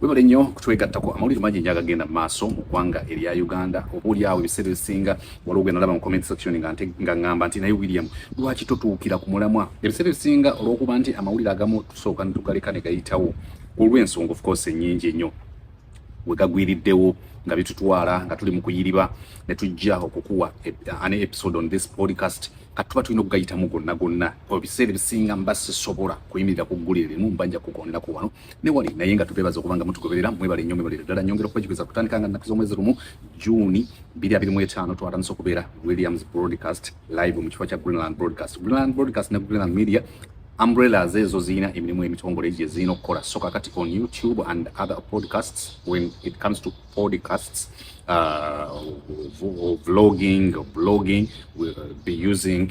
Webale nnyo kutwegattako amawulire mangi nnyo agagenda mu maaso mu ggwanga erya Uganda. Oboolyawo ebiseera ebisinga waliwo gwe nalaba mu comment section nga ng'amba nti naye William lwaki totuukira ku mulamwa? Ebiseera ebisinga olw'okuba nti amawulire agamu tusooka ne tugaleka ne gayitawo olw'ensonga of course ennyingi ennyo we gagwiriddewo nga bitutwala nga tuli mu kuyiriba ne tujja okukuwa e, an episode on this podcast kati tuba tulina okugayitamu gonna gonna ebiseera ebisinga mba sisobola kuyimirira ku ggulire limu mba nja kugondera ku wano ne wali naye nga tubebaza okuba nga mutugoberera mwebale nnyo mwebale ddala nyongera okubajjukiza kutandika nga nnaku z'omwezi lumu juuni biri abiri mu etaano twatandise okubeera williams broadcast live mu kifo kya greenland broadcast greenland broadcast ne greenland media umbrellas ezo zirina emirimu emitongole gye zirina okukola soka kati on youtube and other podcasts when it comes to podcasts uh, vlogging or blogging will be using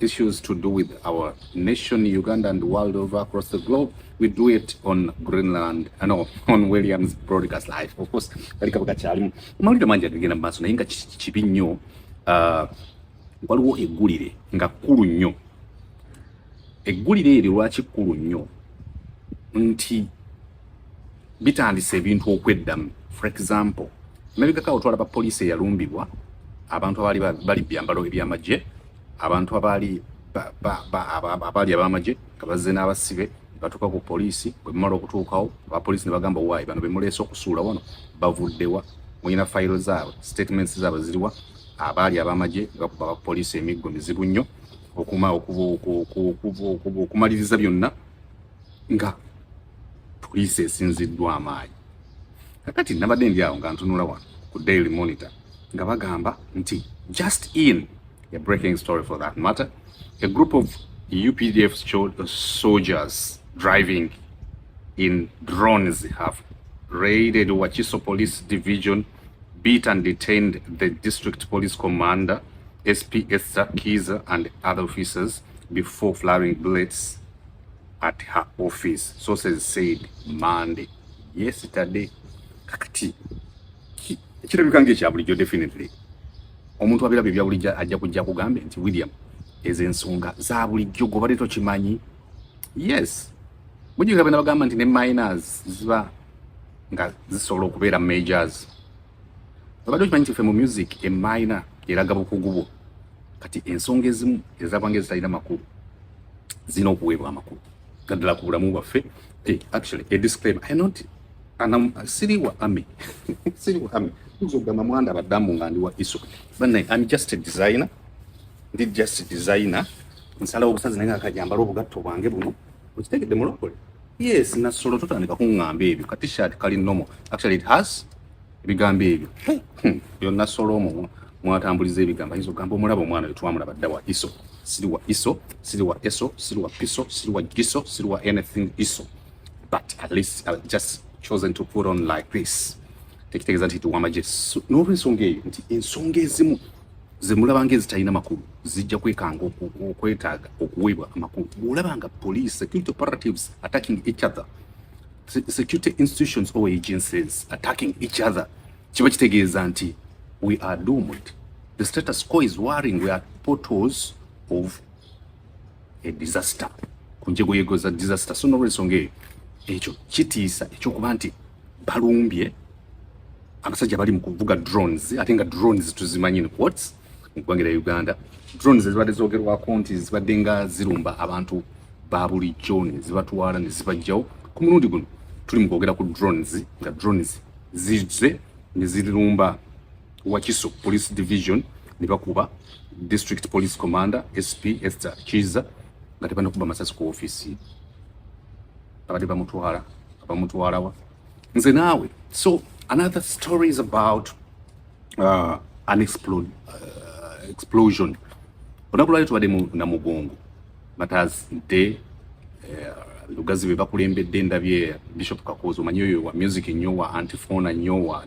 issues to do with our nation, Uganda and the world over across the globe. We do it on Greenland, I know, on Williams Broadcast Live. Of course, katika wakati alimu. Mawulire mangi agenda maaso naye nga kibi nnyo uh, waliwo eggulire nga kkulu nnyo. Eggulire eryo lwaki kkulu nnyo nti bitandise ebintu okweddamu. For example, emabegako awo twalaba poliisi eyalumbibwa abantu abaali bali byambalo eby'amagye abantu abaali abaali abamagye nga bazze n'abasibe batuuka ku poliisi bwe bamala okutuukawo abapoliisi ne bagamba waayi bano bemuleese okusuula wano bavuddewa mulina fayiro zaabwe statements zaabwe ziriwa abaali abamagye bakuba abapoliisi emiggo mizibu nnyo okumaliza byonna nga poliisi esinziddwa amaanyi kakati nabadde ndi awo nga ntunula wano ku daily monitor nga bagamba nti just in a breaking story for that matter a group of updf soldiers driving in drones have raided wakiso police division beat and detained the district police commander sp esther kiza and other officers before flowing bullets at her office sources said Monday yesterday kakati kirabika ng'ekya bulijjo definitely omuntu abiraba ebya bulijjo ajja kujja kugambe nti William ezo ensonga za bulijjo gobadde tokimanyi yes mujinga bena bagamba nti ne minors ziba nga zisobola okubeera majors obadde okimanyi nti ffe mu music emayina eraga bukugu bwo kati ensonga ezimu ezabanga ezitalina makulu zirina okuweebwa amakulu naddala ku bulamu bwaffe eh, actually a disclaimer i not anam siri wa ami siri wa ami nzo gamba mwanda badamu nga ndi wa iso bana i'm just a designer ndi just a designer nsala obusazi naye akajambala obugatto bwange buno okitegedde mulokole Yes, na solo totandika kungamba ebyo. Ka t-shirt kali normal. Actually it has ebigambo ebyo. Hmm. Yo na solo omu mwatambuliza ebigamba hizo gambo mulabo mwana yo twamulaba dawa iso. Siri wa iso, siri wa eso, siri wa piso, siri wa giso, siri wa anything iso. But at least I've just chosen to put on like this. Tekitegeeza nti tuwama Yesu. N'olwensonga eyo nti ensonga ezimu zemulaba nga ezitalina makulu zijja kwekanga okwetaaga okuweebwa amakulu bwolaba nga police security operatives attacking each other security institutions or agencies attacking each other kiba kitegeeza nti we are doomed the status quo is worrying we are portals of a disaster ku njegoyego za disaster so nolwensonga eyo ekyo kitiisa ekyokuba nti balumbye abasajja bali mu kuvuga drones ate nga drones tuzimanyi ni quotes mu ggwanga lya Uganda drones ezibadde zoogerwako nti zibadde nga zirumba abantu ba bulijjo ne zibatwala ne zibajjawo ku mulundi guno tuli mu kwogera ku drones nga drones zizze ne zirumba Wakiso police division ne bakuba district police commander SP Esther Kiza nga tebanakuba masasi ku ofisi abadde bamutwala abamutwalawa nze naawe so another story is about uh, an explode, uh, explosion olunaku lwali tubadde na mugongo matazi nte uh, lugazi be bakulembedde ndabye bishop kakozi omanyi oyo wa music nnyo wa antifona nnyo wa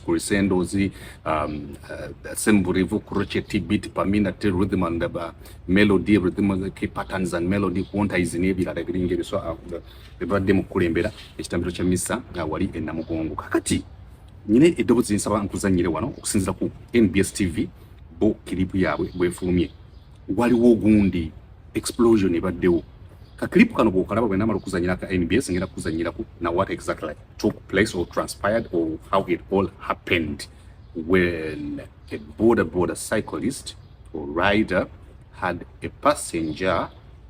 crisendozi um, uh, semburivu crochet beat pamina te rhythm and uh, melody rhythm patterns and melody quantize n'ebirala ebiringa ebyo so uh, bebadde mu kukulembera ekitambiro kya misa nga wali e Namugongo. Kakati nyine eddobozi nsaba nkuzannyire wano okusinzira ku NBS TV bo kiripu yaabwe bwefulumye waliwo ogundi explosion ebaddewo ka clip kano bwokalaba bwe namala okuzannyira ka NBS ngenda kukuzannyirako na what exactly took place or transpired or how it all happened when a border border cyclist or rider had a passenger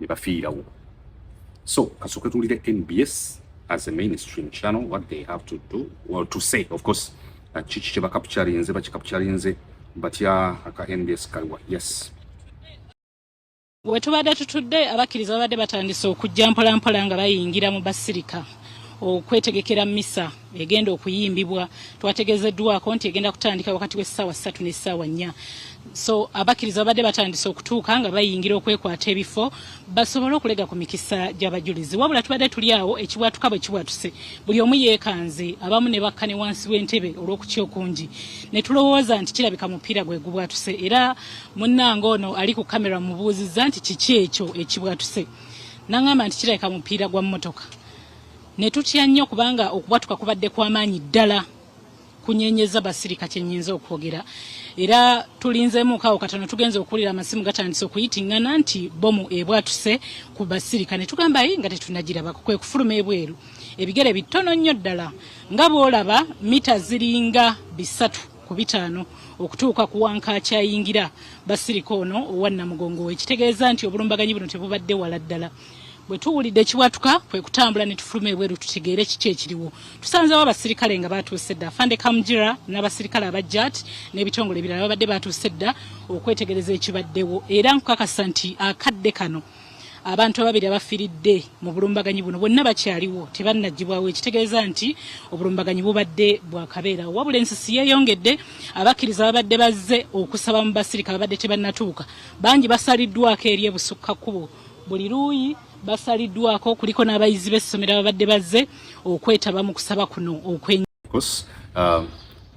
ne bafiirawo so kasooke tuwulire nbs as a mainstream channel what they have to do well to say of course uh, kiki kyebakapukyalinze bakikapukyalinze batya aka nbs kaliwa yes we tubadde tutudde abakkiriza babadde batandise okujja mpolampola nga bayingira mu basirika okwetegekera misa egenda okuyimbibwa twategezeddwako nti egenda kutandika wakati w'essaawa ssatu n'essaawa nnya so abakkiriza babadde batandise okutuuka nga bayingira okwekwata ebifo basobole okulega ku mikisa gy'abajulizi wabula tubadde tuli awo ekibwatuka bwe kibwatuse buli omu yeekanze abamu ne bakka ne wansi w'entebe olw'okutya okungi ne tulowooza nti kirabika mupiira gwe gubwatuse era munnange ono ali ku kamera mubuuzizza nti kiki ekyo ekibwatuse nangamba nti kirabika mupiira gwa mmotoka ne tutya nnyo kubanga okubwatuka kubadde kw'amaanyi ddala kunyenyeza basirika kyenyinza okwogera era tulinzeemu kaawo katono tugenze okuwulira amasimu gatandise okuyitingana nti bomu ebwatuse ku basirika ne tugamba yi nga tetunagirabako kwe kufuluma ebweru ebigere bitono nnyo ddala nga bwolaba mita ziringa bisatu ku bitaano okutuuka ku wankakyayingira basirika ono owannamugongo wekitegeeza nti obulumbaganyi buno tebubadde wala ddala bwe tuwulidde ekiwatuka kwe kutambula ne tufuluma ebweru tutegeere kiki ekiriwo tusanzewo abasirikale nga baatuuse dda fande kamjira n'abasirikale abajjat n'ebitongole ebirala babadde baatuuse dda okwetegereza ekibaddewo era nkukakasa nti akadde kano abantu ababiri abafiridde mu bulumbaganyi buno bonna bakyaliwo tebannagibwawo ekitegeeza nti obulumbaganyi bubadde bwakabeera wabula ensisi yeeyongedde abakkiriza babadde bazze okusaba mu basirika babadde tebannatuuka bangi basaliddwako eri ebusukka kkubo buli luuyi basaliddwako kuliko n'abayizi b'essomero ababadde bazze okwetaba mu kusaba kuno okwen uh,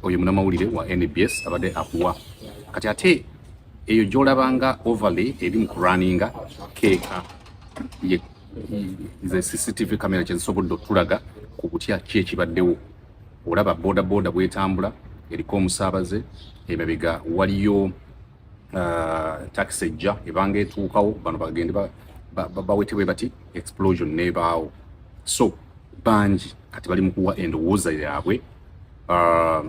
oyo munamawulire wa nbs abadde akuwa kati ate eyo gyolabanga overlay eri mu kurunninga keeka ze cctv camera kyezisobodde okutulaga ku kutya ki ekibaddewo olaba bodaboda bwetambula eriko omusaabaze emabega waliyo uh, taxi ejja ebanga etuukawo bano bagende bawetebwe bati explosion nebaawo so bangi kati bali mukuwa endowooza yaabwe uh,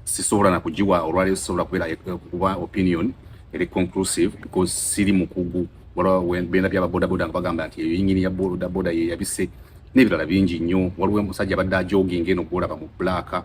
sisobola nakugiwa olwaleero sisobola kubeera eh, kuba opinion eri conclusive because siri mukugu waliwo benda byaba bodaboda nga bagamba nti eyo yingini ya bodaboda yeyabise n'ebirala bingi nnyo waliwo omusajja abadde ajoginga eno gwolaba mu black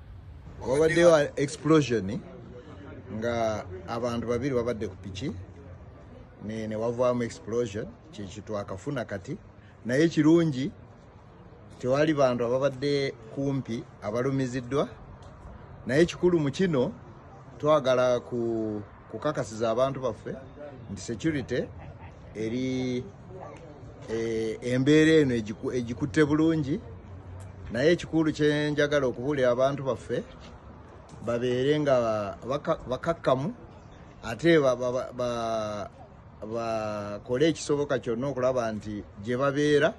wabaddeyo explosion nga abantu babiri babadde ku piki ne wavaamu explosion kyekitwakafuna kati naye kirungi tewali bantu ababadde kumpi abalumiziddwa naye kikulu mu kino twagala ku kukakasiza abantu baffe nti security eri e, embeera eno egikutte bulungi naye ekikulu kyenjagala okubuulira abantu baffe babeere nga bakakkamu ate bakole ekisoboka kyonna okulaba nti gye babeera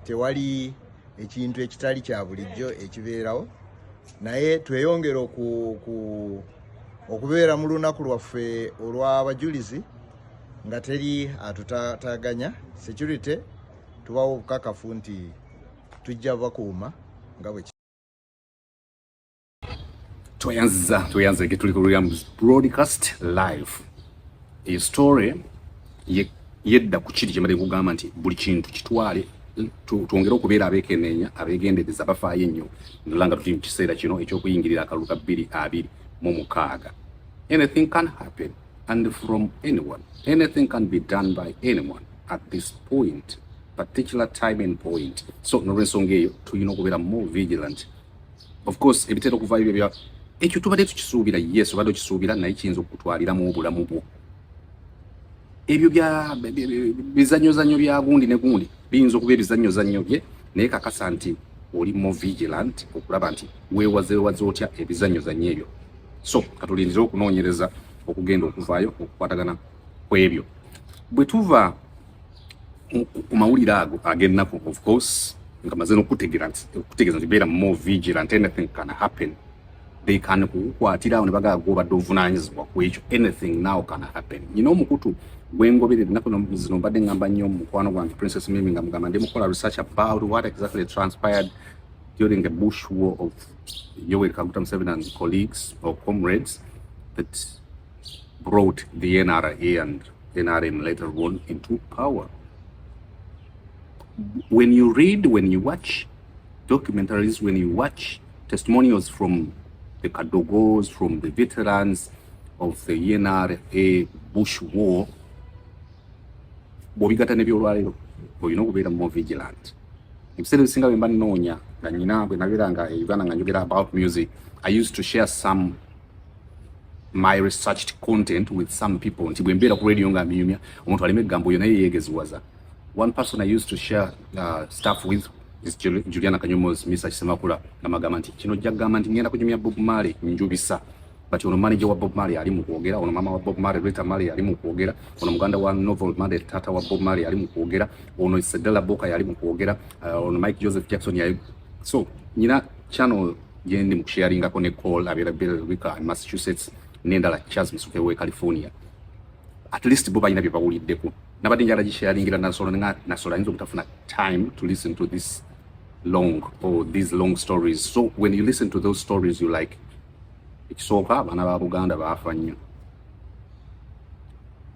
tewali ekintu ekitali kya bulijjo ekibeerawo naye tweyongere okubeera mu lunaku lwaffe olw'abajulizi nga teri atutaganya security tubawo obukakafu nti tujja bakuuma nga bwe Tweyanziza, tweyanziza ke tuli ku Williams broadcast live. Iyi story ye yedda ku kiri kyemade kugamba nti buli kintu kitwale twongere okubeera abekenenya abegendereza bafaayo ennyo nolanga tuli mu kiseera kino ekyokuyingirira akalulu ka bbiri abiri mu mukaaga anything can happen and from anyone anything can be done by anyone at this point particular time and point so nolwensonga eyo tulina okubeera more vigilant of course ebitera okuvaayo byo bya ekyo tubadde tukisuubira yes obadde okisuubira naye kiyinza okukutwaliramu obulamu bwo ebyo bya bizanyozanyo bya gundi ne gundi biyinza okuba ebizanyozanyo bye naye kakasa nti oli mo vigilant okulaba nti wewazewaze otya ebizanyozanyo ebyo so katulindire okunoonyereza okugenda okuvaayo okukwatagana ku ebyo bwe tuva ku mawulire ago ag'ennaku of course nga maze n'okutegeera nti okutegeeza nti beera more vigilant anything can happen they can kukukwatira awo ne bagala gwobadde ovunaanyizibwa ku ekyo anything now can happen nyina omukutu gwengoberera ennaku zino mbadde ngamba nnyo mukwano gwange princess mimi nga mugamba ndi mukola research about what exactly transpired during a bush war of yoweri kaguta museveni and colleagues or comrades that brought the nra and NRM later won into power. When you read, when you watch documentaries, when you watch testimonials from the Kadogos, from the veterans of the NRA Bush War, bw'obigatta n'ebyolwaleero olina okubeera more vigilant ebiseera ebisinga bwe mba nnoonya nga nyina bwe nabeera nga e uganda nga njogera about music i used to share some my researched content with some people nti bwe mbeera ku radio nga mbinyumya omuntu aleme eggambo oyo naye yeegeziwaza one person i used to share uh, stuff with is juliana kanyomozi misa kisemakula namagamba nti kino ojja kugamba nti ngenda kunyumya bob male njubisa but ono manager wa bob male ali mu kwogera ono mama wa bob male rita male ali mu kwogera ono muganda wa novel male tata wa bob male ali mu kwogera ono sedela boka yali mu kwogera uh, ono mike joseph jackson yali so nyina channel gyendi mu kusharingako ne call abeera Billerica and Massachusetts n'endala Charles Musuke w'e California at least bo balina bye bawuliddeko nabadde njala gisharingira nasola nga nasola ayinza obutafuna time to listen to this long or these long stories so when you listen to those stories you like ekisooka abaana ba Buganda baafa nnyo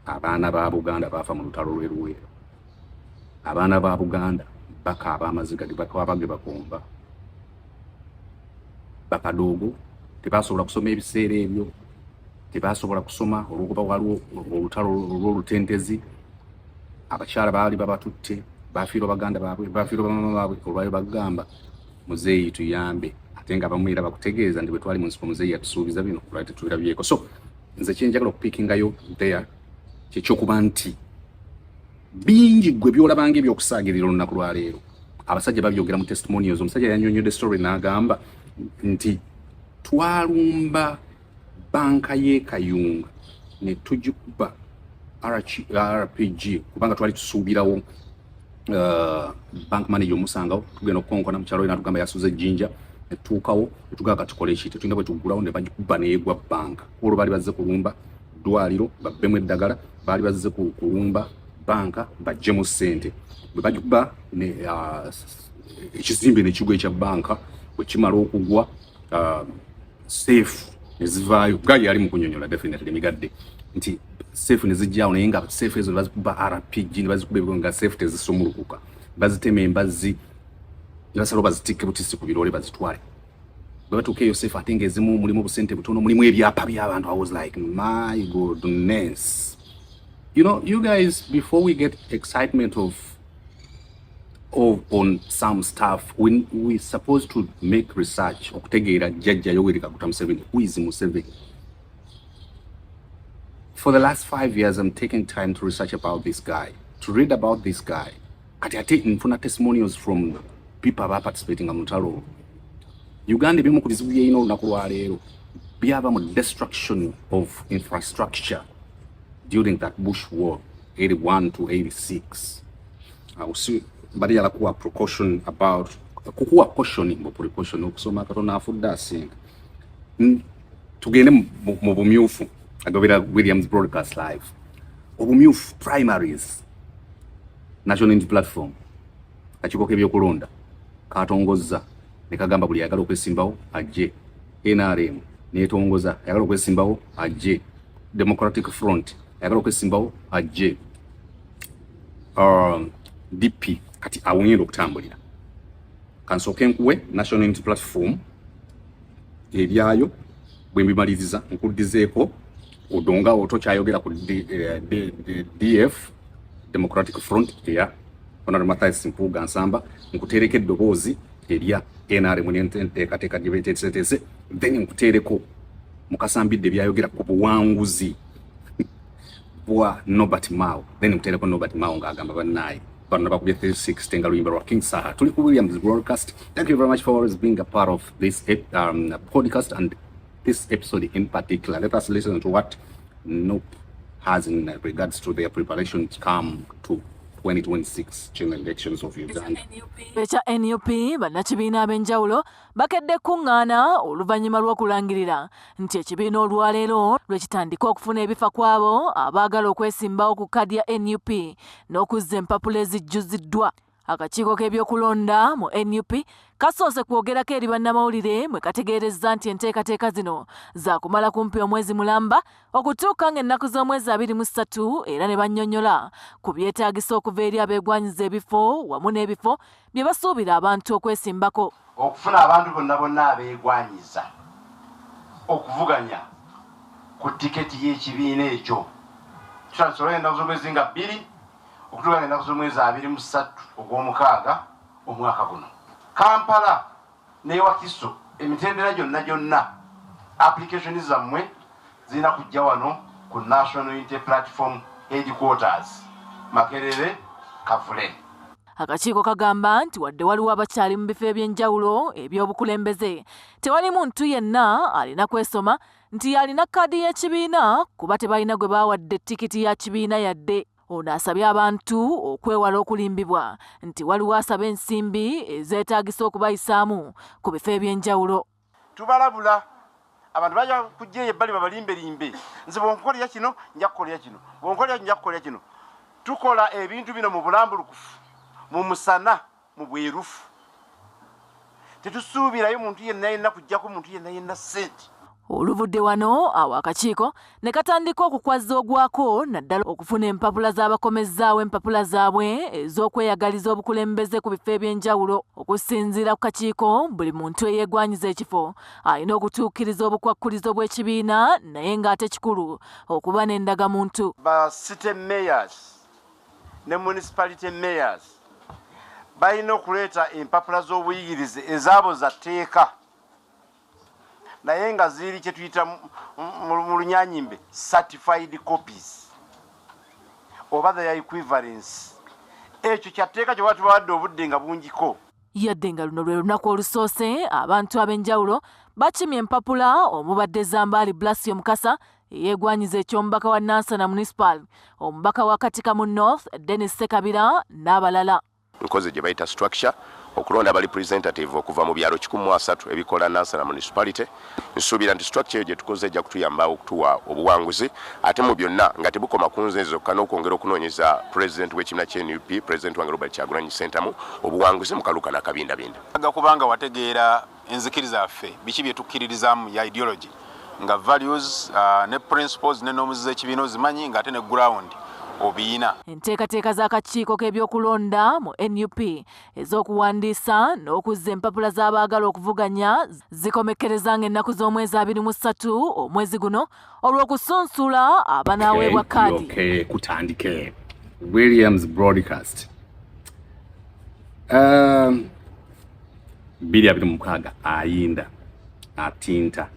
abaana ba Buganda baafa mu lutalo lw'e Luweero abaana ba Buganda bakaaba amaziga ge bakaaba ge bakomba bakadoogo tebasobola kusoma ebiseera ebyo tebasobola kusoma olwokuba waliwo olutalo olwolutentezi abakyala baali babatutte bafiirwa baganda baabwe bafiirwa bamama baabwe olwayo bagamba muzeeyi tuyambe ate nga abamu era bakutegeeza nti bwetwali munsiko muzeeyi yatusuubiza bino olwali tetubirabyeko so nze kyenjagala okupikingayo there kyekyokuba nti bingi gwe byolabanga ebyokusaagirira olunaku lwaleero abasajja babyogera mu testimonials omusajja yanyonyode story n'agamba nti twalumba banka y'ekayunga ne tugikuba rpg kubanga twali tusuubirawo uh, bank manager omusangawo tugenda okukonkona mukyalo yena tugamba yasuza ejjinja netutuukawo netugaa katukole ekite tulina bwe tuggulawo ne bagikuba neegwa banka olwo baali bazze kulumba ddwaliro babbemu eddagala baali bazze ku kulumba banka bajjemu ssente bwe bajuba ah, ekizimbe nekigwa ekya banka bwe kimala okugwa ah, seefu nezivaayo gali yali mukunyonyola definitely migadde nti seefu nezijjawo naye nga seefu ezo bazikuba rpg nebazikuba ebigo nga seefu tezisumulukuka bazitema embazzi nebasalawo bazitikke butisi ku biroole bazitwale bwe batuuka eyo sefu ate nga ezimu mulimu obusente butono mulimu ebyapa by'abantu i was like my goodness you know you guys before we get excitement of of on some stuff we, we supposed to make research okutegeera jjajja yoweri kaguta museveni who is museveni for the last five years i'm taking time to research about this guy to read about this guy kati ate nfuna testimonials from people aba participating mu lutalo uganda ebimu ku bizibu byeyina olunaku lwaleero byava mu destruction of infrastructure during that bush war 81 to 86 awusi bali yala kuwa precaution about kukuwa cautioning mu precaution okusoma katonda afudde asinga tugende mu bumyufu agobera williams broadcast live obumyufu primaries National Unity Platform akakiiko k'ebyokulonda katongozza ne kagamba buli ayagala okwesimbawo ajje. NRM netongoza ayagala okwesimbawo ajje. Democratic Front ayagala okwesimbawo ajje. Um, DP kati awonyera okutambulira. Kansooke nkuwe National Unity Platform ebyayo bwe mbimaliriza nkuddizeeko odonga oto kyayogera ku df eh, democratic front eya honorable mathias mpuuga nsamba nkuteereko eddoboozi erya nrm nenteekateeka gye beteeseteese then nkuteereko mukasambidde byayogera ku buwanguzi bwa Nobert Mao then mtereko Nobert Mao nga agamba banaye bano bakubye 360 nga luyimba lwa King Saha tuli ku Williams broadcast thank you very much for always being a part of this um, podcast and this episode in particular, let us listen to what Noop has in regards to their preparation to come to 2026 general elections of Uganda. ekya nup bannakibiina ab'enjawulo bakedde kukuŋŋaana oluvannyuma lw'okulangirira nti ekibiina olwaleero lwe kitandika okufuna ebifa kw'abo abaagala okwesimbawo ku kaadi ya nup n'okuzza empapula ezijjuziddwa Akakiiko k'ebyokulonda mu nup kasoose kwogerako eri bannamawulire mwe kategeerezza nti enteekateeka zino zaakumala kumpi omwezi mulamba okutuuka ng'ennaku z'omwezi abiri mu ssatu era ne bannyonnyola ku byetaagisa okuva eri abeegwanyiza ebifo wamu n'ebifo bye basuubira abantu okwesimbako okufuna abantu bonna bonna abeegwanyiza okuvuganya ku tiketi y'ekibiina ekyo tutandisobola ennaku z'omwezi nga bbiri okutwala ennaku z'omwezi abiri mu ssatu ogw'omukaaga omwaka guno kampala newakiso emitendera gyonna gyonna application zammwe zirina kujja wano ku national unity platform headquarters makerere kavule akakiiko kagamba nti wadde waliwo abakyali mu bifo eby'enjawulo eby'obukulembeze tewali muntu yenna alina kwesoma nti yalina kaadi y'ekibiina kuba tebalina gwe baawadde tikiti ya kibiina yadde Ono asabye abantu okwewala okulimbibwa nti waliwo asaba ensimbi ezeetaagisa okubayisaamu ku bifo eby'enjawulo. Tubalabula abantu bajja kujja eyo ebbali babalimbelimbe nze bwonkolera kino nja kukolera kino bwonkolera nja kukolera kino. Tukola ebintu bino mu bulambulukufu mu musana. Mu bwerufu, tetusuubirayo muntu yenna yenna kujjako muntu yenna yenna ssente. Oluvudde wano awo akakiiko ne katandika okukwazza ogwako naddala okufuna empapula z'abakomezzaawo empapula zaabwe ez'okweyagaliza obukulembeze ku bifo eby'enjawulo okusinziira ku kakiiko buli muntu eyeegwanyiza ekifo alina okutuukiriza obukwakkulizo bw'ekibiina naye ng'ate kikulu okuba n'endagamuntu ba city mayors ne municipality mayors balina okuleeta empapula z'obuyigirize ezaabo za tteeka naye nga ziri kye tuyita mu lunyanyimbe certified copies oba the equivalence ekyo kyatteeka kyoba tubawadde obudde nga bungiko yadde nga luno lwe lunaku olusoose abantu ab'enjawulo bakimye empapula omubadde zambaali blasio mukasa Yeegwanyiza eky'omubaka wa Nansana Municipal, omubaka wa Katikamu North Dennis Sekabira n'abalala. Nkoze gye bayita structure okulonda a representative okuva mu byalo kikumi mu asatu ebikola Nansana Municipality. Nsuubira nti structure eyo gye tukoze ejja kutuyamba okutuwa obuwanguzi ate mu byonna nga tebukoma ku nze zokka n'okwongera okunoonyeza president w'ekibiina kya nup president wange Robert Kyagulanyi Ssentamu obuwanguzi mu kaluka n'akabindabinda. Kubanga wategeera enzikiriza yaffe biki bye tukkiririzaamu ya ideology nga values uh, ne principles ne norms z'ekibiina ozimanyi ng'ate ne ground obiyina enteekateeka z'akakiiko k'ebyokulonda mu nup ez'okuwandiisa n'okuzza empapula z'abaagala okuvuganya zikomekkereza ng'ennaku z'omwezi abiri mu ssatu omwezi guno olw'okusunsula abanaaweebwa kaadi kutandike williams broadcast um, bbiri abiri mukaaga ayinda atinta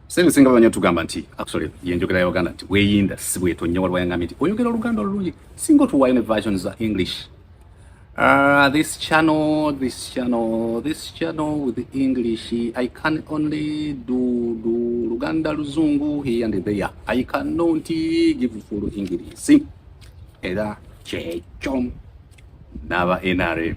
sente singa banya tugamba nti actually yenjogera ya Uganda nti weyinda si bwetonya waliwo yangambye nti oyogera oluganda olulungi singa otuwayo ne versions za English Uh, this channel, this channel, this channel with the English, I can only do, do Luganda Luzungu here and there. I cannot give full English. See? Eda chechom naba NRM.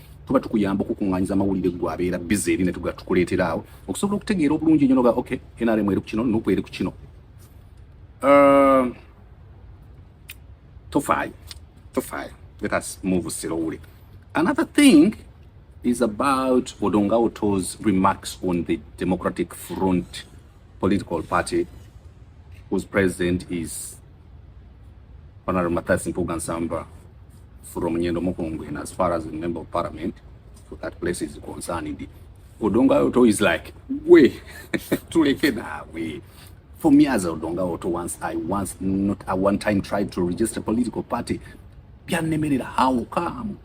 tuba tukuyamba okukunganyiza amawulire gwe abeera bize eri netuga tukuleetera awo okusobola okutegeera obulungi enyo noga okay nrm eri ku kino nupu eri ku kino uh, tofaayo tofaayo let us move slowly another thing is about odonga oto's remarks on the democratic front political party whose president is Honorable Mathias Mpuga Nsamba from Nyendo Mukungwe, and as far as the member of parliament for that place is concerned, Odonga Oto is like, we, tuleke nawe. For me as Odonga Oto, once I once not a one time tried to register a political party, pia nemerera how come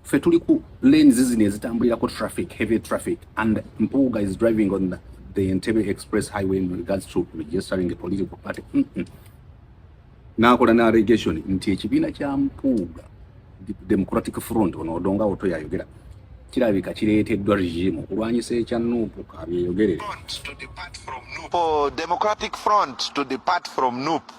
fe tuli ku lanes zino ezitambulirako traffic heavy traffic and mpuuga is driving on the, the entebe express highway in regards to registering a political party mm -mm. nakola na allegation nti ekibiina kya mpuuga democratic front ono odonga oto yayogera kirabika kireeteddwa regime okulwanyisa ekya nupu kabyeyogerere democratic front to depart from nupu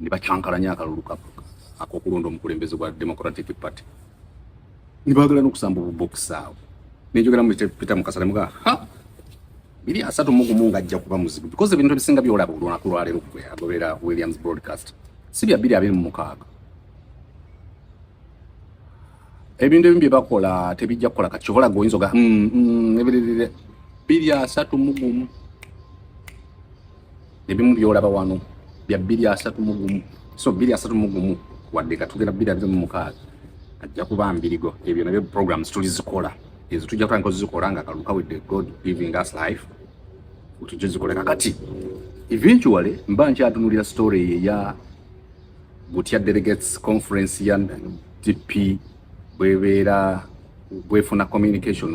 ne bacankalanya akalulu ak'okulonda omukulembeze gwa Democratic Party ne baagala n'okusamba obubokisi awo nenjogera mu Peter Mukasa ne mugaa ha biri asatu mu gumu ng'ajja kuba muzibu because ebintu ebisinga byolaba olunaku lwaleero gwe agoberera Williams Broadcast si bya biri abiri mu mukaaga ebintu ebimu bye bakola tebijja kukola kati kyobola gwe oyinza oga mm, mm, biri asatu mu gumu ebimu byolaba wano bya bbiri asatu mu gumu so bbiri asatu mu gumu wadde katugera bbiri abiri mu mukaaga ajja kuba mbirigo ebyo nabyo programs tuli zikola ezo tujja kuba nkozi zikola nga kaluka with the god giving us life tujja zikola kakati eventually mba nkyatunulira story eyo eya butya delegates conference ya dp bwebeera bwefuna communication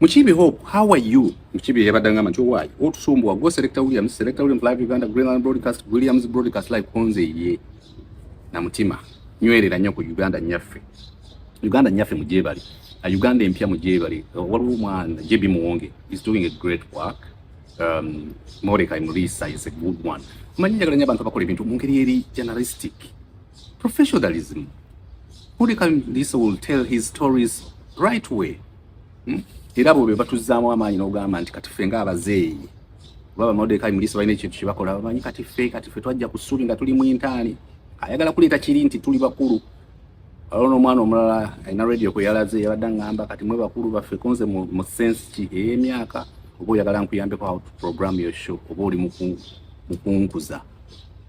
Mukibi Hope, how are you? Mukibi yabadde ngamba nti owaayi otusumbuwa go Selector Williams, Selector Williams Live Uganda, Greenland Broadcast, Williams Broadcast Live konze ye na mutima nywerera nnyo ku Uganda nyaffe Uganda nyaffe mugyebali a Uganda empya mugyebali waliwo omwana JB Muwonge is doing a great work um, Mordecai Murisa is a good one manyi njagala nnyo abantu abakola ebintu mu ngeri eri journalistic professionalism Mordecai Murisa will tell his stories right way hmm? era bo bebatuzaamu amaanyi n'ogamba nti kati ffe ng'abazeeyi oba bamodekayi muliisa balina ekintu kyebakola bamanyi kati ffe kati ffe twajja ku ssuubi nga tuli mu intaani ayagala kuleeta kiri nti tuli bakulu waliwo n'omwana omulala alina radio kwe yalaze yabadde aŋŋamba kati mwe bakulu baffe konze mu sense ki ey'emyaka oba oyagala nkuyambeko how to program your show oba oli mukunkuza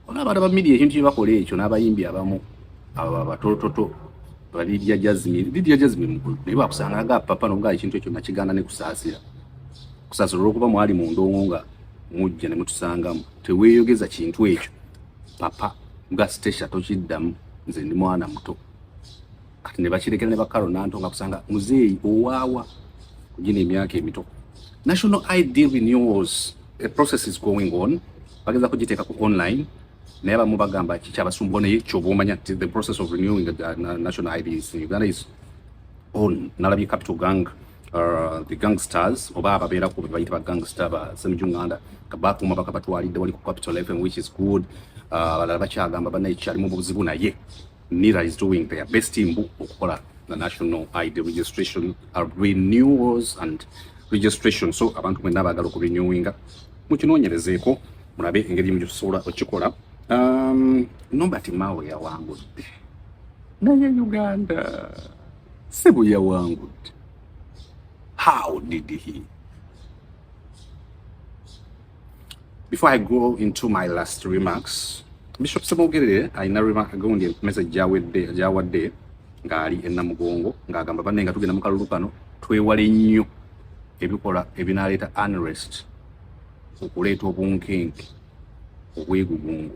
olaba abantu ba media ekintu kyebakola ekyo n'abayimbi abamu abo babatoototo Lydia Jasmine, Lydia Jasmine mukulu naye bakusanga nga papa no nga ekintu ekyo nakigana ne kusasira kusasira olwokuba mwali mu ndongo nga mujja ne mutusangamu teweeyogeza kintu ekyo papa nga Stecia tokiddamu nze ndi mwana muto kati ne bakirekera ne bakalo nanto nga kusanga muzeeyi owaawa kugina emyaka emito national id renewals a process is going on bageza kugiteeka ku online naye abamu bagamba kikyabasumbuwa naye kyoba omanya ti the process of renewing the uh, national ids in uganda is on nalabye capital gang uh, the gangsters oba ababeera ku bebayita ba gangster ba semijunganda kabakuuma bakabatwalidde wali ku capital fm which is good uh, abalala uh, bakyagamba banaye kikyalimu buzibu naye NIRA is doing their best in book okukola the national ID registration uh, renewals and registration so abantu mwena abagala okurenewinga mukinonyerezeeko mulabe engeri mugisobola okikola um, Norbert Mao yawangudde naye Uganda si bwe yawangudde how did he Before I go into my last remarks, Bishop Semogerere alina remark gundi message gyawedde gyawadde ng'ali e Namugongo ng'agamba banne nga tugenda mu kalulu kano twewale nnyo ebikola ebinaaleeta unrest okuleeta obunkenke obwegugungo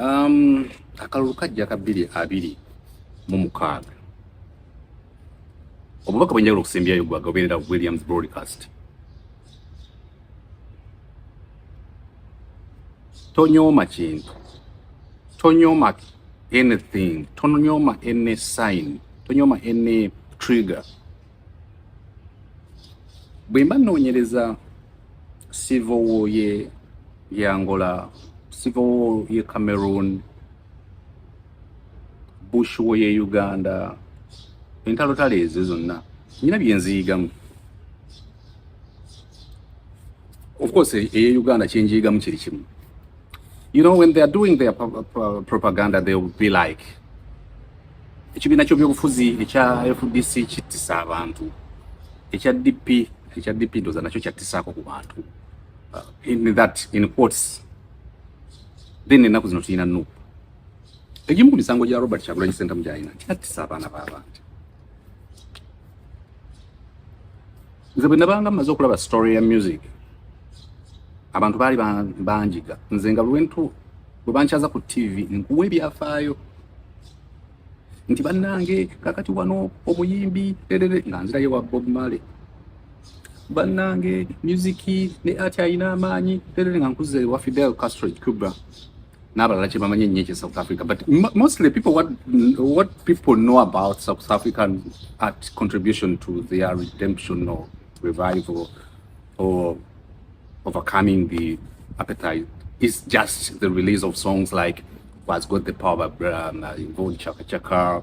Um, akalulu kajja ka bbiri abiri mu mukaaga obubaka bwenjawulo okusembyayo gwaga obeerera williams broadcast tonyooma kintu tonyooma anything tonyooma any sign tonyooma any trigger bwe mba nnoonyereza sivowoye ye Angola, Civil ye Cameroon, Bush wo ye Uganda, entalotalo ezo zonna nyina byenziyigamu. Of course, eye Uganda kyenjiyigamu kiri kimu. You know, when they are doing their propaganda, they will be like, ekibiina ky'obuyobufuzi ekya FDC kittisa abantu, ekya DP ekya DP ndoza nakyo kyattisaako ku bantu. uh, in that in quotes then enaku zino tulina nup egimu ku misango gya robert kyagulanyi sentamu gyalina nti attisa abaana b'abantu nze bwe nabanga mmaze okulaba story ya music abantu baali banjiga nze nga lwentu bwe bankyaza ku tv nkuwa ebyafaayo nti bannange kakati wano omuyimbi erere nga nzirayo wa bob marley bannange musiki ne ati alina amaanyi terere nga nkuze wa fidel castro cuba n'abalala kye bamanyi ennyo ekye south africa but mostly people what, what people know about south african art contribution to their redemption or revival or overcoming the appetite is just the release of songs like was got the power by um, uh, Chaka Chaka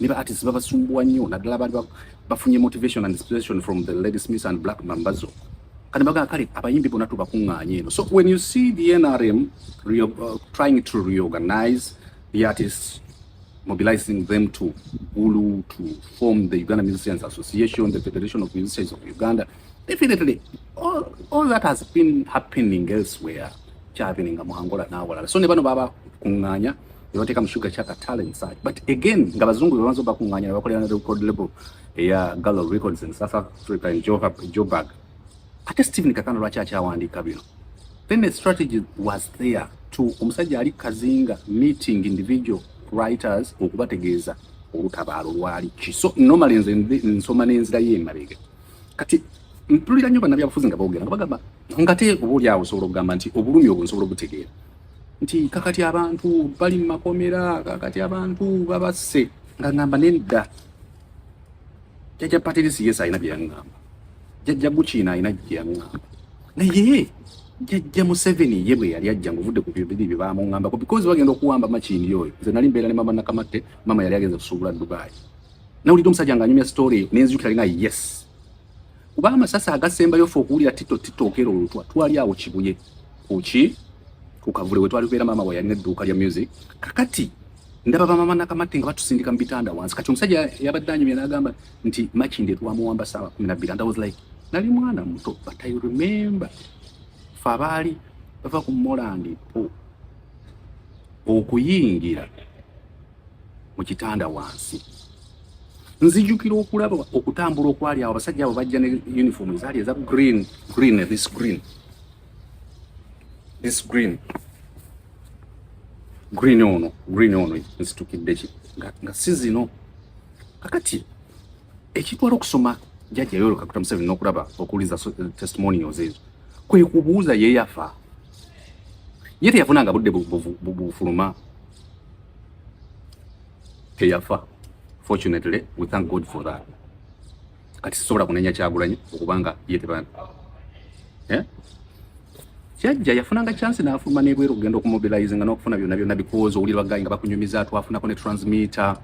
ne ba artists babasumbuwa nnyo naddala abantu bafunye motivation and inspiration from the lady smith and black mambazo kati bagamba kale abayimbi bona tubakuŋŋaanye eno so when you see the nrm re uh, trying to reorganize the artists mobilizing them to ulu to form the uganda musicians association the federation of musicians of uganda definitely all, all that has been happening elsewhere kyabeninga mu angola n'awalala so ne bano babakuŋŋaanya ne bateeka mu sugar chaka talent side but again nga bazungu bebanza obakuŋŋaanya ne bakolera na record label eya gallo records in south africa in joburg ate stephen kakana lwaki akyawandiika bino then the strategy was there to omusajja ali kazinga meeting individual writers okubategeeza olutabaalo lwali ki so normally nze nsoma n'enzira ye emabega kati mpulira nnyo bannabyabufuzi nga boogera nga bagamba ngate oba oli awo osobola okugamba nti obulumi obwo nsobola obutegeera nti kakati abantu bali mu makomera kakati abantu babasse nga ngamba nedda jajja patirisi yesu alina byeyaŋŋamba jajja gukiina alina gyeyaŋŋamba naye jajja museveni ye bwe yali ajja ngaovudde ku bibiri bye bamuŋambako because bagenda okuwamba makindi oyo nze nali mbeera ne mama nakamatte mama yali agenza kusuubula dubai nawulidde omusajja ng'anyumya story nenzijukira nga yes kuba amasasi agasembayo fe okuwulira tito tito okera olutwa twali awo kibuye kuki ku kavule we twali tubeera maama we yalina edduuka lya music kakati ndaba bamama nakamate nga batusindika mu bitanda wansi kati omusajja yabadde anyumya n'agamba nti makinde twamuwamba saawa kumi nabbiri and i was like nali mwana muto but i remember fe abaali bava ku molandipo okuyingira mu kitanda wansi nzijukira okulaba okutambula okwali awo abasajja abo bajja ne uniform ezaali eza green green this green this green green ono green ono nzitukidde ki nga si zino kakati ekitwala okusoma jajja yolo kakuta museveni n'okulaba okuwuliza eh, testimonials ezo kwe kubuuza ye yafa ye teyafunanga budde bufuluma teyafa fortunately we thank god for that kati sisobola kunenya kyagulanyi okubanga ye tebana eh? kyajja yafunanga chance nafuluma nebweru okugenda okumobilize nga nokufuna byona byona bikozi owulira bagayi nga bakunyumiza twafunako ne transmitter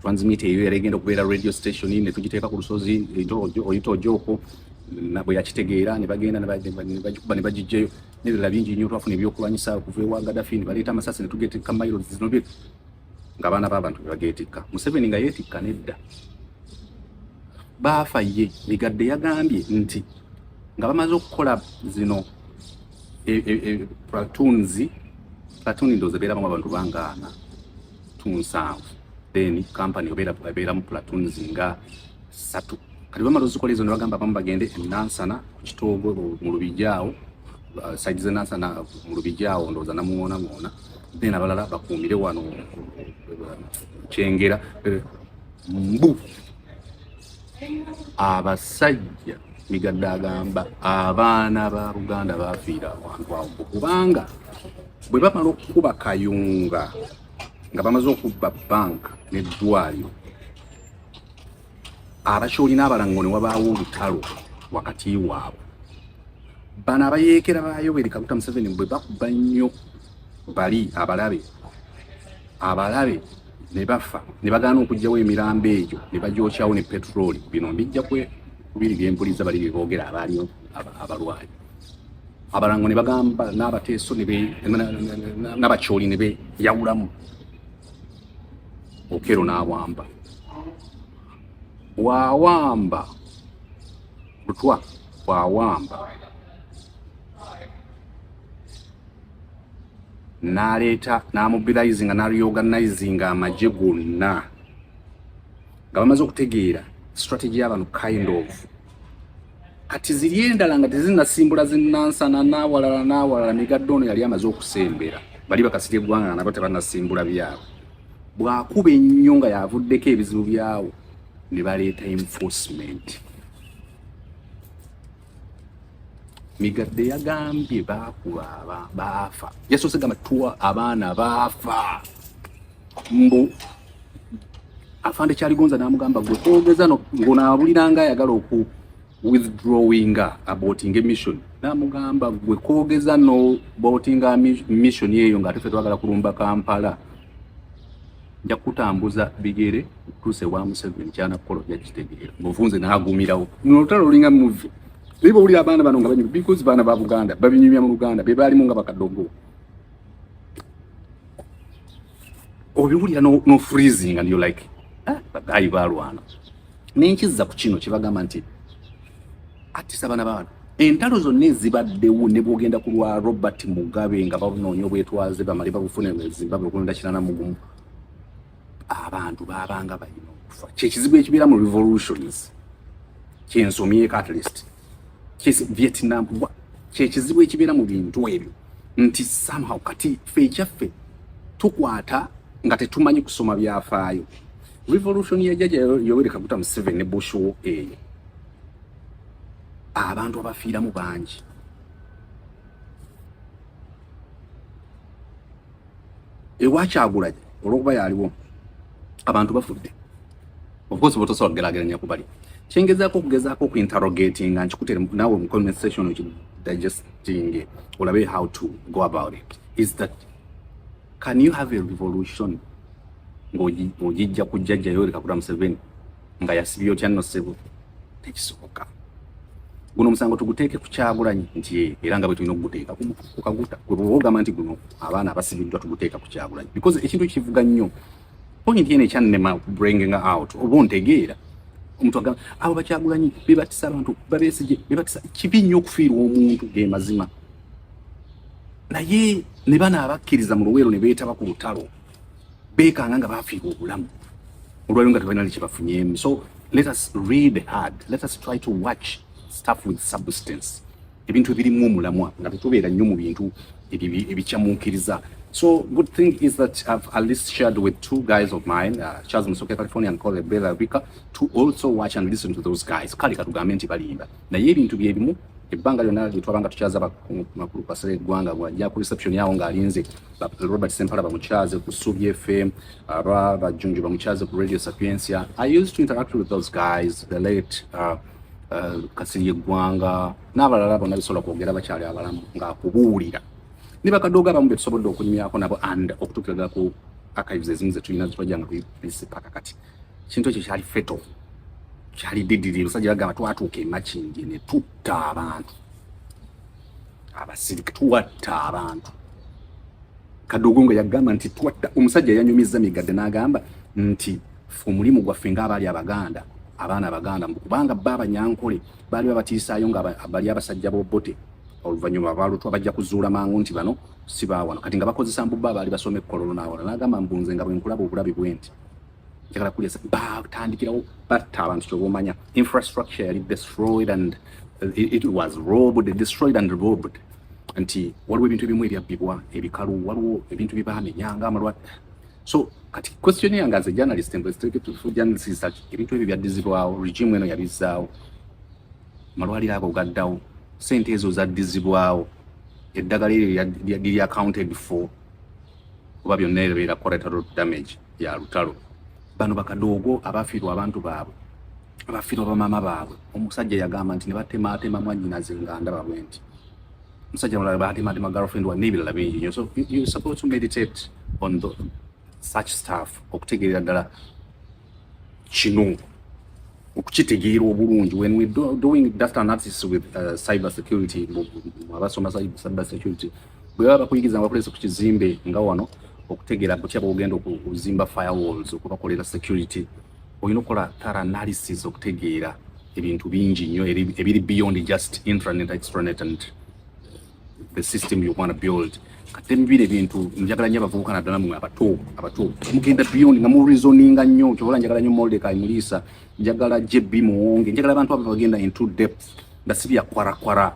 transmit eyo era egenda okubeera radio station ne tugiteeka ku lusozi oyita ojoko bwe yakitegeera ne bagenda ne bagikuba ne bagijjayo n'ebirala bingi nnyo twafuna ebyokulwanyisa okuva ewa gadafi ne baleeta amasasi ne tugeetikka mailo zino bye ng'abaana b'abantu be bageetikka museveni nga yeetikka nedda baafa ye migadde yagambye nti nga bamaze okukola zino e, e, e, platoons platoon ndoozi ebeeramu abantu bangaana tunsanvu then company obeera ebeeramu platoons nga satu kati bamala ozikola ezo nebagamba abamu bagende enansana ku kitoogo mu lubijaawo uh, side ze nansana uh, mu lubijaawo ndowooza namuwonawoona then abalala bakuumire wano uh, kyengera mbu abasajja migadde agamba abaana ba buganda bafiira abantu awo kubanga bwe bamala okukuba kayunga nga bamaze okubba banka neddwaliro abakyolina abalango ne wabaawo olutalo wakati waabwe bano abayeekera ba yoweri kaguta museveni bwe bakuba nnyo bali abalabe abalabe ne bafa ne bagaana okugyawo emirambo egyo ne bagyokyawo ne petulooli bino mbijja kwe kubiri bye mpuliza bali bye boogera abaaliyo abalwayi abalango ne bagamba n'abateeso n'abakyoli ne beyawulamu okero n'awamba wawamba butwa bwawamba n'aleeta n'amobilizinga n'areorganizinga amagye gonna nga bamaze okutegeera strategy y'abantu kind of kati ziri endala nga tezinasimbula zinansana n'awalala n'awalala migadde ono yali amaze okusembera bali bakasirya eggwanga nga nabo tebanasimbula byabo bwakuba ennyo nga yavuddeko ebizibu byawo ne baleeta enforcement migadde yagambye baakuba baafa yasoose gamba tuwa abaana baafa mbu afande kyaligonza n'amugamba gwe twogeza ngonaabuliranga ayagala oku withdrawing abotinga emission namugamba gwe kogeza no botinga mission eyo nga tufe twagala kulumba kampala nja kutambuza bigere okutuusa ewa Museveni kyana kukola ojja kitegeera ng'ofunze n'agumirawo luno olutalo lulinga muvi naye bwowulira abaana bano nga banyuma because baana ba Buganda babinyumya mu Luganda be baalimu nga bakadogo obiwulira no, no freezing and you like ah, bagayi balwana nenkizza ku kino kyebagamba nti atisa abana babantu entalo zonna ezibaddewo ne bwogenda ku lwa robert mugabe nga banoonya obwetwaze bamale babufune zimbabwe okulonda kirana mugumu abantu babanga balina okufa kyekizibu ekibeera mu revolutions kyensomyeko at least kesi Vietnam wa kyekizibu ekibeera mu bintu ebyo nti somehow kati fe ekyaffe tukwata nga tetumanyi kusoma byafaayo revolution ya jaja Yoweri Kaguta Museveni ne Bush wo eyo abantu abafiiramu bangi ewa kyagulanyi olwokuba yaliwo abantu bafudde ofcourse botosobola kugerageranya kubali kyengezaako okugezaako okuinterogatinga nkikutere nawe mu comment section okidigestinge olabe how to go about it is that can you have a revolution ng'ojijja kujjajja yoreka kuta museveni nga yasibye otya nno ssebo tekisoboka guno omusango tuguteeke ku kyagulanyi nti eh, era nga bwe tulina okuguteeka ku kaguta gwe bwoba ogamba nti guno abaana abasibiddwa tuguteeka ku kyagulanyi because ekintu kivuga nnyo point yene ekyannema bringing out oba ontegeera omuntu agamba abo bakyagulanyi bebatisa abantu babesije bebatisa kibi nnyo okufiirwa omuntu ge mazima naye ne bano abakkiriza mu luweero ne beetaba ku lutalo beekanga nga baafiirwa obulamu olwaliro nga tebalina nekyebafunyeemu so let us read hard let us try to watch stuff with substance ebintu ebirimu omulamwa nga tetubeera nnyo mu bintu ebikyamuukiriza so good thing is that i've at least shared with two guys of mine uh, charles musoke california and cole bela rika to also watch and listen to those guys kale katugambe nti balimba naye ebintu bye bimu ebbanga lyonna lye twabanga tukyaza makulu pasale eggwanga bwajja ku reception yawo ng'alinze robert sempala bamukyaze ku subi fm aba bajjunju bamukyaze ku radio sapiencia i used to interact with those guys the late uh, uh, kasiri eggwanga n'abalala bonna bisobola kwogera bakyali abalamu ng'akubuulira ne bakadogo abamu betusobodde okunyumyako nabo and okutuukiraga ku archives ezimu zetulina zetwajjanga ku paka kati kintu ekyo kyali feto kyali didiri omusajja bagamba twatuuka emakindi ne tutta abantu abasirika tuwatta abantu kadogo nga yagamba nti twatta omusajja yanyumizza migadde n'agamba nti omulimu gwaffe ng'abaali abaganda abaana abaganda kubanga bba abanyankole baali babatiisaayo nga bali abasajja bobote oluvannyuma abalutwa bajja kuzuula mangu nti bano si baawano kati nga bakozesa mbubba abaali basoma ekkololo n'awala n'agamba mbunze nga bwe nkulaba obulabi bwe nti njagala kuliasa batandikirawo batta abantu kyobomanya infrastructure yali destroyed and uh, it, it was robbed destroyed and robbed nti waliwo ebintu ebimu ebyabbibwa ebikalu waliwo ebintu byebamenya nga amalwat so kati question yange as a journalist mbweteketufujanisisak ebintu ebyo byaddizibwawo regime eno yabizzaawo amalwaliro ago gaddawo sente ezo zaddizibwawo eddagala eryo liri accounted for oba byonna ebeera collateral damage ya lutalo bano bakadoogo abafiirwa abantu baabwe abafiirwa bamaama baabwe omusajja yagamba nti nebatemaatema mwanyinaze nga ndaba bwe nti omusajja mulala batemaatema girlfriend wa n'ebirala bingi nyo so you supposed to meditate on the, such staff okutegeerera ddala kino okukitegeera obulungi when we do, doing data analysis with uh, cyber security abasoma cyber security bwe baba bakuyigiza nga bakulese ku kizimbe nga wano okutegeera kutya bwogenda okuzimba firewalls okubakolera security olina okukola thorough analysis okutegeera ebintu bingi nnyo ebiri beyond just intranet extranet and the system you want to build kati mubire ebintu njagala nnyo abavubuka naddala mwe abato abato mugenda beyond nga mureasoninga nnyo kyobola njagala nnyo moldeka imuliisa njagala jb muwonge njagala abantu abo bagenda into depth nga si byakwarakwara